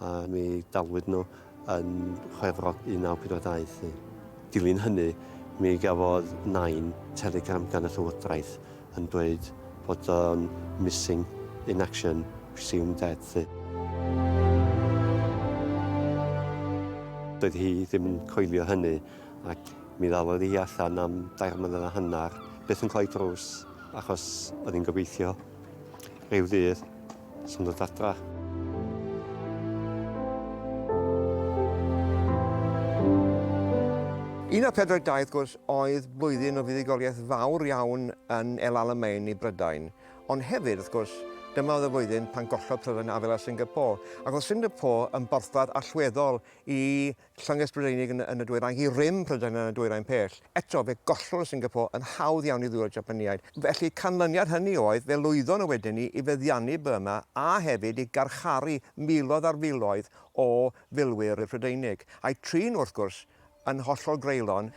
a mi dalwyd nhw yn Chwefrog 1942. Yn dilyn hynny, mi gafodd Nain telegram gan y Llywodraeth yn dweud bod o'n missing in action, presumed dead 'lly. Doedd hi ddim yn coelio hynny ac mi ddalodd hi allan am dair mlynedd a hanner, byth yn cloi drws, achos oedd hi'n gobeithio ryw ddydd, Sy'n dod adra. Un o'r pedwar daith gwrs oedd blwyddyn o fuddugoliaeth fawr iawn yn El Alamein i Brydain, ond hefyd, wrth gwrs, dyma oedd y flwyddyn pan gollodd Prydain afel ar Singapore, ac oedd Singapore yn borthladd allweddol i Llynges Brydeinig yn yn y dwyrain i rym Prydain yn y dwyrain pell. Eto, fe gollodd Singapore yn hawdd iawn i ddwylo'r Japaniaid. Felly, canlyniad hynny oedd, fe lwyddon nhw wedyn i i feddiannu Burma a hefyd i garcharu miloedd ar filoedd o filwyr y Prydeinig, a'u trin, wrth gwrs, yn hollol greulon.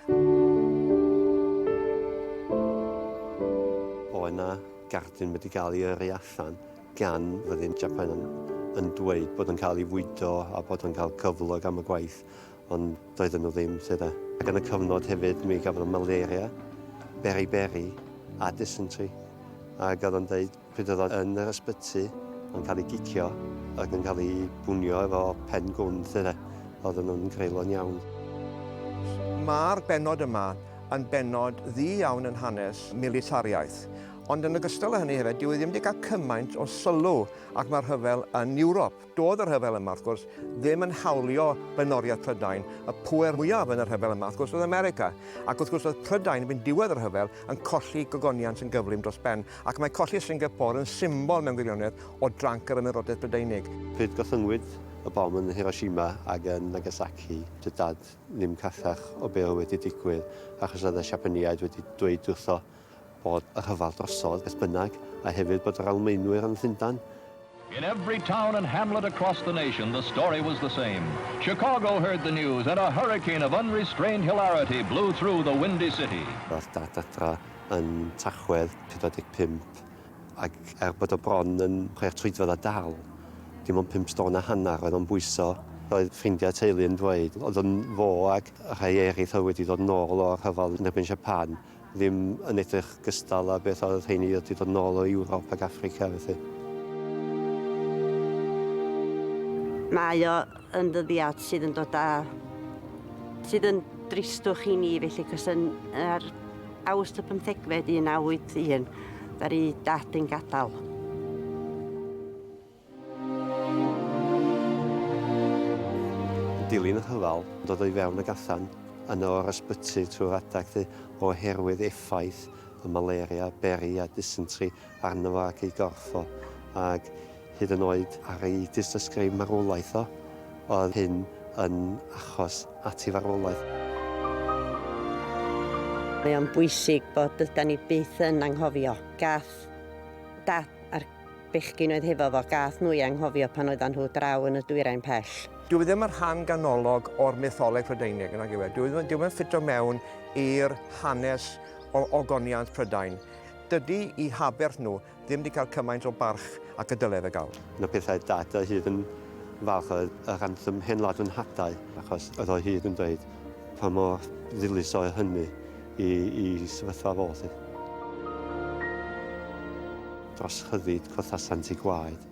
Oedd 'na gardyn wedi cael ei yrru allan. gan fyddin Japan yn, yn dweud bod yn cael ei fwydo a bod yn cael cyflog am y gwaith, ond doedden nhw ddim, ti de. Ac yn y cyfnod hefyd mi gafodd malaria, beriberi a dysentery. Ac oedd o'n dweud pryd oedd o'n yn yr ysbyty, o'n cael ei gicio ac yn cael ei bwnio efo pen gwn, ti de. Oedd nhw'n greulon iawn. Mae'r bennod yma yn bennod ddu iawn yn hanes militariaeth. Ond yn ogystal â hynny hefyd, dyw e ddim wedi cael cymaint o sylw ac mae'r rhyfel yn Ewrop. Doedd y rhyfel yma, wrth gwrs, ddim yn hawlio blaenoriaeth Prydain. Y pŵer mwyaf yn y rhyfel yma, wrth gwrs, oedd America. Ac wrth gwrs, oedd Prydain yn mynd diwedd y rhyfel yn colli gogoniant yn gyflym dros ben, ac mae colli Singapore yn symbol mewn gwirionedd o dranc yr Ymerodraeth Brydeinig. Pryd gollynwyd y bom yn Hiroshima ac yn Nagasaki, dydd Dad ddim carchach o be oedd wedi digwydd, achos oedd y Siapaneaid wedi dweud wrtho bod y rhyfel drosodd, beth bynnag, a hefyd bod yr Almaenwyr yn Llundain. In every town and hamlet across the nation the story was the same. Chicago heard the news and a hurricane of unrestrained hilarity blew through the windy city. Ddaeth Dad adra yn Tachwedd 45 ac er bod o bron yn chwech troedfedd a dal dim ond pump stôn a hanner oedd o'n bwyso, roedd ffrindiau a teulu yn dweud oedd yn fo ac rhai eraill oedd wedi dod yn ôl o'r rhyfel yn erbyn Japan. Ddim yn edrych gystal â beth oedd rheiny oedd 'di dod nôl o Ewrop ac Affrica felly. Mae o yn ddyddiad sydd yn dod â... sydd yn dristwch i ni felly, cos yn ar Awst y pymthegfed 1981 ddaru Dad yn gadael. Dilyn y rhyfel, dod o'i fewn ag allan yno o'r ysbyty trwy'r adeg hynny oherwydd effaith y malaria, beri a dysentery arno fo ac ei gorff o, ac hyd yn oed ar ei dystysgrif marwolaeth o, oedd hyn yn achos at ei farwolaeth. Mae o'n bwysig bod dydan ni byth yn anghofio. Gath Dad a'r. Bechgyn oedd hefo fo, gath nhw eu anghofio pan oeddan nhw draw yn y dwyrain pell. Dyw e ddim yn rhan ganolog o'r mytholeg Prydeinig, nag yw e? Dyw e ddim yn ffito mewn i'r hanes o ogoniant Prydain. Dydy 'u haberth nhw ddim 'di cael cymaint o barch ac y dyle fe gael. Un o pethau Dad a hyd yn falch oedd yr anthem 'Hen Wlad fy Nhadau', achos yr oedd hyd yn dweud pa mor ddilys oedd hynny. i, i sefyllfa fo, lly. Dros chyfyd, cwrthasant i gwaed.